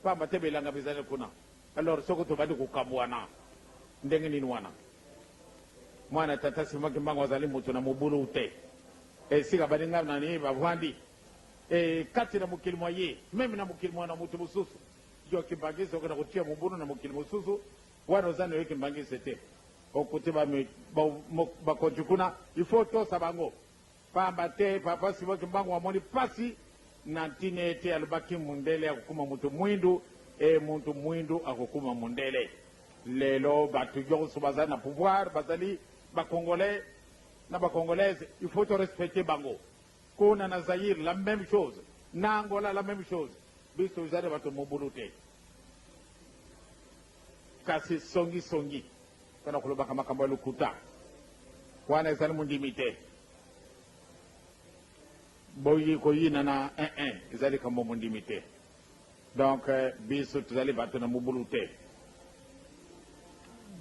Pamba te bilanga bizali kuna. Alors soki tobandi kokabuana ndenge nini wana? Mwana tata Simon Kimbangu azali mutu na mobulu te. Esika baninga na ye bavandi e kati na mokili mua ye, meme na mokili mua na mutu mosusu. Yo Kimbangiste okenda kotia mobulu na mokili mosusu, wana oza nayo Kimbangiste te. Okuti ba bakonzi kuna, il faut otosa bango. Pamba te Papa Simon Kimbangu amoni pasi na ntina ete alobaki mundele akokoma mutu muindu et mutu muindu akokoma mundele. Lelo batu yonso bazali na pouvoir bazali ba Congolais na ba Congolaises, il faut to respecter bango. Kuna na Zaïre la meme chose, na Angola la meme chose. Biso tozali batu mobulu te. Kasi songi songi. Pona kolobaka makambo ya lokuta wana ezali mondimi te boyi koyinana eh eh ezali likambo mondimi te donc eh, biso tozali bato na mobulu te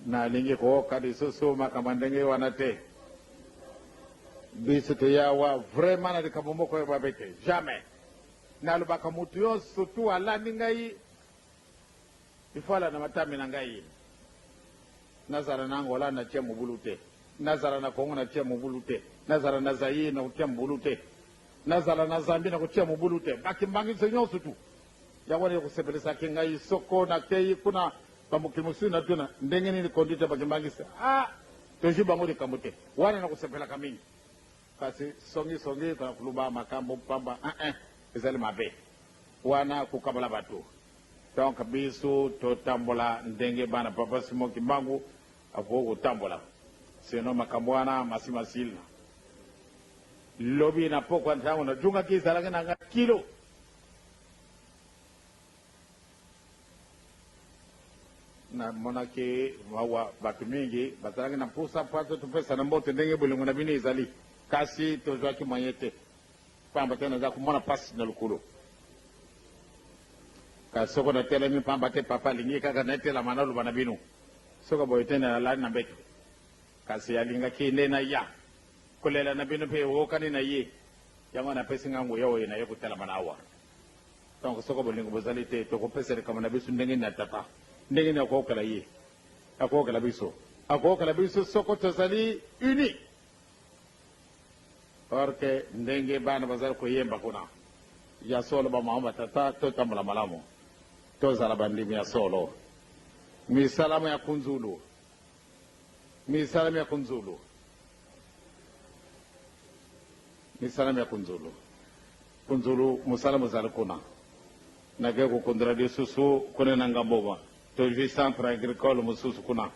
nalingi kooka lisusu makambo ya ndenge wana te biso toyawa vraiment na likambo moko ya mabe te jamais nalobaka moto yo surtout alandi ngai Lifala na matambe na ngai. Nazala na Angola na tia mobulu te. Nazala na Congo na tia mobulu te. Nazala na Zaïre na kotia mobulu te. Nazala na Zambie na kotia mobulu te. Ba kimbanguiste nionso tout. Yango wana ekosepelisaki ngai soko nakeyi kuna ba mokili mosusu natuna ndenge nini conduite ya ba kimbanguiste. Ah! Tozwi bango likambo te. Wana nakosepelaka mingi. Kasi songi songi koluba makambo pamba eeh ezali mabe. Wana kokabola batu. Donc biso totambola ndenge bana papa Simon kimbangu akoki kotambola sinon makambo wana masi masila. Lobi na pokwa ntango na djungaki ezalaki na nga kilo. Na monaki mawa bato mingi bazalaki na mposa mpo ato topesana mbote ndenge bolingo na bino ezali kasi tozwaki moyen te. Pamba te naza komona pasi na lokolo. Kasi soko natelemi pamba te Papa alingi kaka netelama, naloba na bino, soko boye te nalali na mbeto. Kasi alingaki nde naya. Kolela na bino pe eokani na ye, yango wana apesi ngai nguya oyo naye kotelama na awa. Donc soko bolingo bozali te, tokopesa likambo na biso ndenge nini na Tata? Ndenge nini akookela ye? Akookela biso? Akookela biso soko tozali unis. Or que ndenge bana bazali koyemba kuna, ya solo ba mama ba tata totambola malamu, tozala bandimi ya solo. Misala mya kunzulu, misala mya kunzulu, misala mya kunzulu, kunzulu mosala mozali kuna. Nake kokundola lisusu kuna na ngambo tozwi centre agricole mosusu kuna,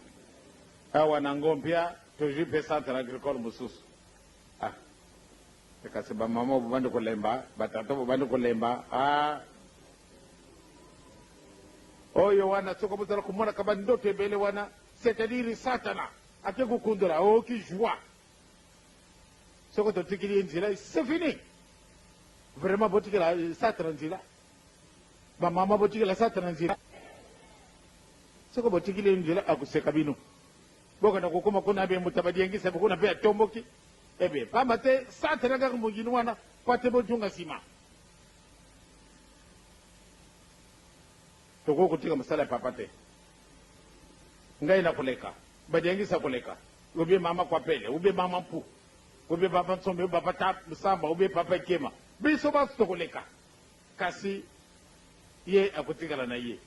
awa na Ngompia. Tozui mpe centre agricole mosusu. Ah eh, kasi ba mama bobandi kolemba, ba tata bobandi kolemba. Ah oyo wana soki bozala komonaka ba ndoto ebele wana, c'est-à-dire satana ake kokundola aoki oh, joie soki totikili ye nzela c'est fini. Vraiment botikela eh, satana nzela, ba mama botikela satana nzela, soki botikili ye nzela akoseka bino. Mboka na kokoma kuna ebe moto abadiengisa ebe kuna mpe atomboki ebe pamba te satana kaka mongini wana pate botunga nsima tokoki kotika mosala ya papa te ngai na koleka badiengisa koleka obe mama kwapele obe mama mpu obe papa nsombe obe papa samba obe papa ekema biso banso tokoleka Kasi Ye akotikala na Ye.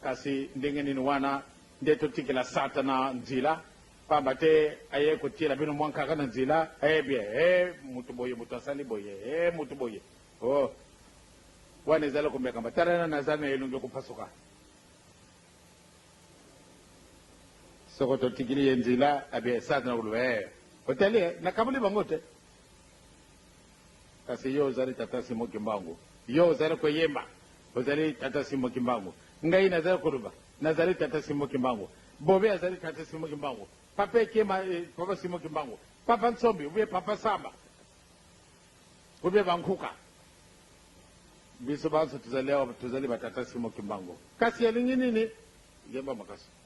Kasi ndenge nini? Wana nde totikela Satana nzila, pamba te ayei kotiela bino mwa nkaka na nzila, Ee, bye, ee, moto boye, moto asali boye, ee, moto boye. Oh, wana ezali komekama. Tala, na, nazali na elongi ya kopasuka. Soko totikili ye nzila, eh bye, Satana akoloba, Ee, otali, eh, nakaboli bango te. Kasi yo ozali tata Simon Kimbangu. Yo ozali koyemba, ozali tata Simon Kimbangu. Ngai nazali koloba, nazali tata Simon Kimbangu. Bobe azali tata Simon Kimbangu. Papa Ekema, eh, papa Simon Kimbangu. Papa Nsombi, oubien papa Samba. Oubien Bankuka. Biso banso tozali awa, tozali ba tata Simon Kimbangu. Kasi alingi nini? Yemba makasi.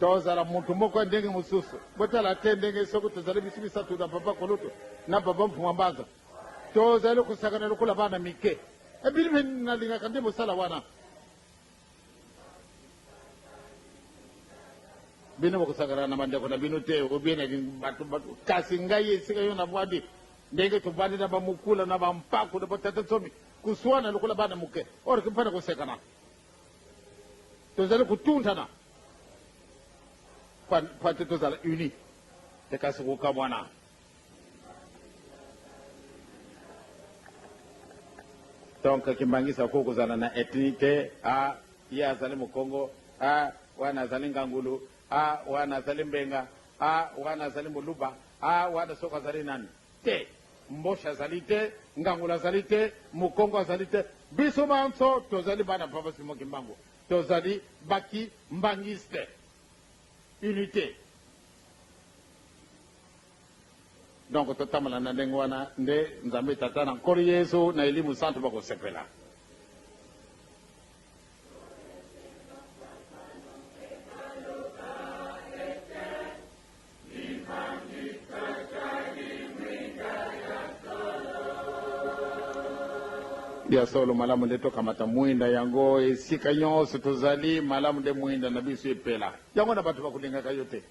Tozala moto moko ya ndenge mosusu. Botala te ndenge soko tozali biso misato na Papa Kulutu na Papa Mfuma Mbanza, tozali kosakana lokola bana mike. Ebili mpe nalingaka nde mosala wana. bino bokosakana na bandeko na bino te obie na bato bato kasi ngai esika yo navwandi ndenge tovandi na bamokula na bampako na batata nsomi koswana lokola bana moke orke mpo na kosekana tozali kotundana Pate tozala uni te kasi kokamwana. Donc Kimbangisa ko kozala na ethnie te, ah ye azali Mukongo, ah wana azali Ngangulu, ah wana azali Mbenga, ah wana azali Muluba, ah wana soko azali nani te. Mboshi azali te, Ngangulu azali te, Mukongo azali te, biso banso tozali bana Papa Simon Kimbangu. Tozali ba ki mbanguiste unite donc totambola na ndenge wana nde nzambe tata na nkolo yesu na elimu santu bakosepela Ya solo, malamu nde tokamata mwinda yango esika nyonso tozali. Malamu nde mwinda na biso epela yango na bato bakolingaka yo te,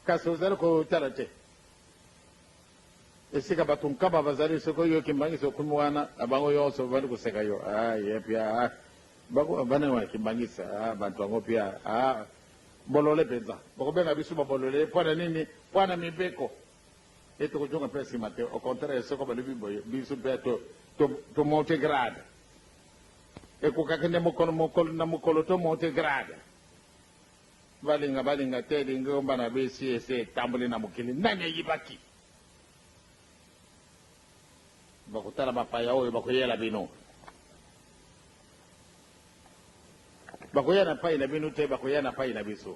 kasi ozali kotala te esika bato nkaba bazali. Soki oyoki mbangisi okomi wana na bango nyonso babandi koseka yo, ah, ye pia ah, bango bana wa kimbangisa ah, bato yango pia ah. Bolole mpenza. Bokobenga biso ba bolole mpo na nini? Mpo na mibeko. Mpe tokozonga mpe nsima te. Au contraire, soko balobi boye, biso mpe to, to, to monte grade. Ekokaki nde mokolo, mokolo na mokolo to monte grade. Balinga, balinga te, lingomba na bisi esi etamboli na mokili. Nani ayibaki? Bakotala bapaya oyo bakoyela bino. Bakoya na payi na bino te bakoya na payi na biso.